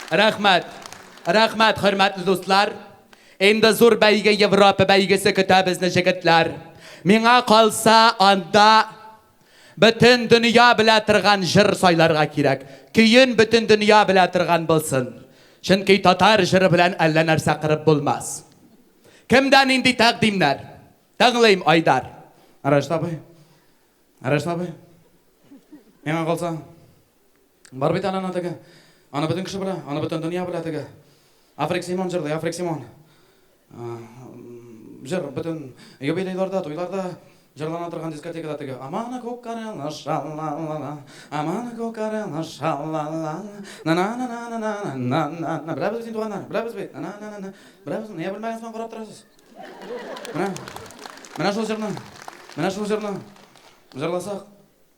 Рәхмәт! Рәхмәт, хөрмәтле дуслар! Инде зур бәйге, Европа бәйгесе көтә безне, җегетләр! Миңа калса, анда бөтен дөнья белә торган җыр сайларга кирәк. Көен бөтен дөнья белә торган булсын. Чөнки татар җыры белән әллә нәрсә кырып булмас. Кемдә нинди тәкъдимнәр? Тыңлыйм, Айдар. Рәшит абый. Рәшит абый. Миңа калса. Бар бит әле ана теге. Аны бөтен кеше белә, аны бөтен дөнья белә теге. Африк Симон җырлый, Африк Симон. Җыр бөтен юбилейларда, туйларда җырлана торган дискотекада теге. Амана күк карелы шалла-ла-ла, амана күк карелы шалла-ла-ла, на-на-на-на-на-на-на-на-на. Беләбез бит, туганнар, беләбез бит, на-на-на-на-на. Беләбез, нигә белмәгән соң карап торасыз? Менә, менә шул җырны, менә шул җырны җырласак,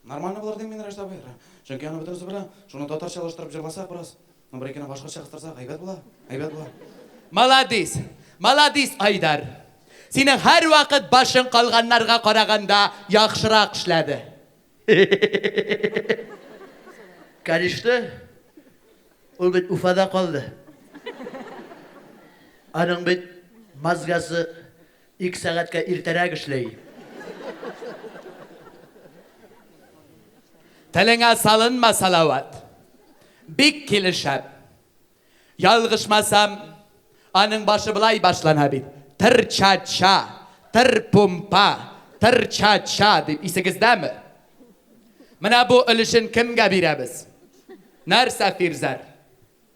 Нормально булыр дим мин, Рәшит абый. Чөнки аны бөтенесе белә. Шуны татарчалаштырып җырласак бераз. Ну, бер икене башкача кыстырсак, әйбәт була. Әйбәт була. Маладис! Маладис, Айдар! Синең һәрвакыт башың калганнарга караганда яхшырак эшләде. Каништы, ул бит Уфада калды. Аның бит мазгасы Ике сәгатькә иртәрәк эшли. Телеңә салынма Салават. Бик килешә. Ялгышмасам, аның башы болай башлана бит, тыр-ча-ча, тыр-пумпа, тыр-ча-ча дип, исегездәме? Менә бу өлешен кемгә бирәбез? Нәрсә, Фирзәр?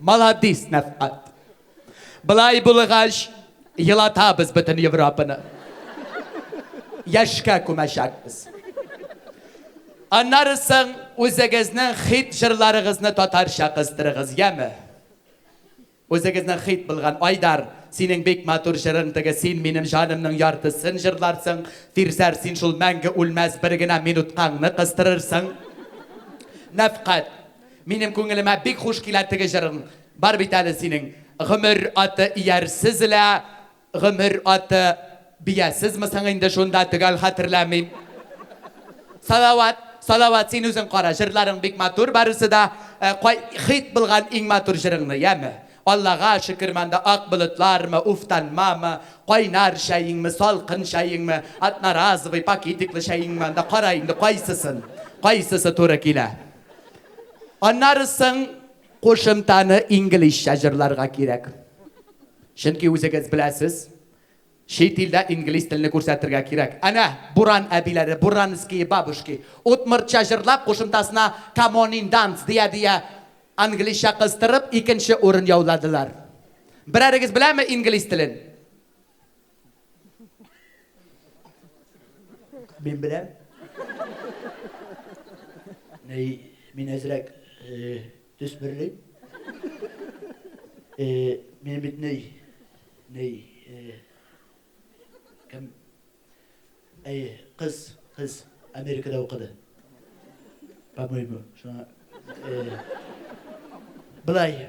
Маладис, Нәфкать. Былай булгач, елатабыз бөтен Европаны. Яшькә күмәчәкбез. Аннары соң үзегезнең хит җырларыгызны татарча кыстырыгыз, яме? Үзегезнең хит булган Айдар, синең бик матур җырың теге Син минем җанымның яртысын җырларсың, Фирзәр, син шул мәңге үлмәс бер генә минуткаңны кыстырырсың. Нәфкать. Минем күңелемә бик хуш килә теге җырың бар бит әле синең, Гомер аты иярсез лә, гомер аты биясезме соң инде шунда, төгәл хәтерләмим. Салават, Салават, син үзең кара, җырларың бик матур барысы да, ә кай хит булган иң матур җырыңны, яме? Аллага шөкер монда ак болытлармы, уфтанмамы, кайнар чәеңме, салкын чәеңме, одноразовый, пакетиклы чәеңме анда, кара инде кайсысын, кайсысы туры килә. Аннары соң кушымтаны инглизчә җырларга кирәк. Чөнки үзегез беләсез, чит илдә инглиз телне күрсәтергә кирәк. Әнә, буран әбиләре, буранские бабушки, удмуртча җырлап, кушымтасына come on in dance дия-дия, англизча кыстырып, икенче урын яуладылар. Берәрегез беләме инглиз телен? Мин беләм. Мин әзрәк төс берлим. Мин бит ней, ней, кем, әй, кыз, кыз Америкада укыды. По-моему, шуңа. Былай,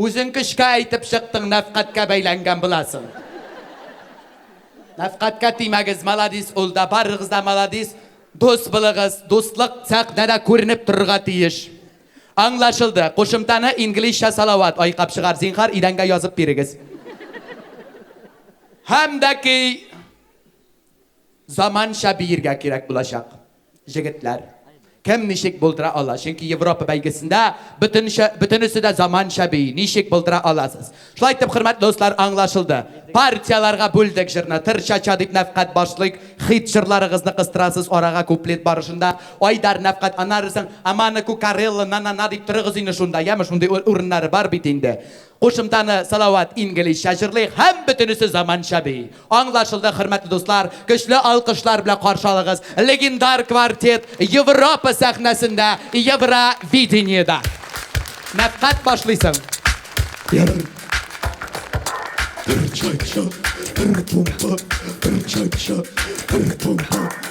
Үзең көчкә әйтеп чыктың, нәфкатькә бәйләнгән буласың. Нәфкатькә тимәгез, маладис ул да, барыгыз да маладис, дус булыгыз, дуслык сәхнәдә күренеп торырга тиеш. Аңлашылды, кушымтаны инглизчә салават айкап чыгар, зинхар идәнгә язып бирегез. Һәм дә ки, Заманча биергә кирәк булачак, җегетләр. Кем ничек булдыра ала? Чөнки Европа бәйгесендә бөтенчә, бөтенесе дә заманча бии. Ничек булдыра аласыз? Шулай итеп, хөрмәтле дуслар, аңлашылды. Партияләргә бүлдек җырны. Тыр-ча-ча дип нәфкать башлыйк. Хит җырларыгызны кыстырасыз арага куплет барышында. Айдар, нәфкать, аннары соң Амана Кукарелла, на-на-на дип торыгыз инде шунда, яме, шундый урыннары бар бит инде. Кушымтаны Салават инглизчә җырлый һәм бөтенесе заманча бии. Аңлашылды, хөрмәтле дуслар, көчле алкышлар белән каршы алыгыз легендар квартет Европа сәхнәсендә Евровидениедә. Нәкать башлыйсың. Бер чатча, бер помпа, бер чатча, бер помпа,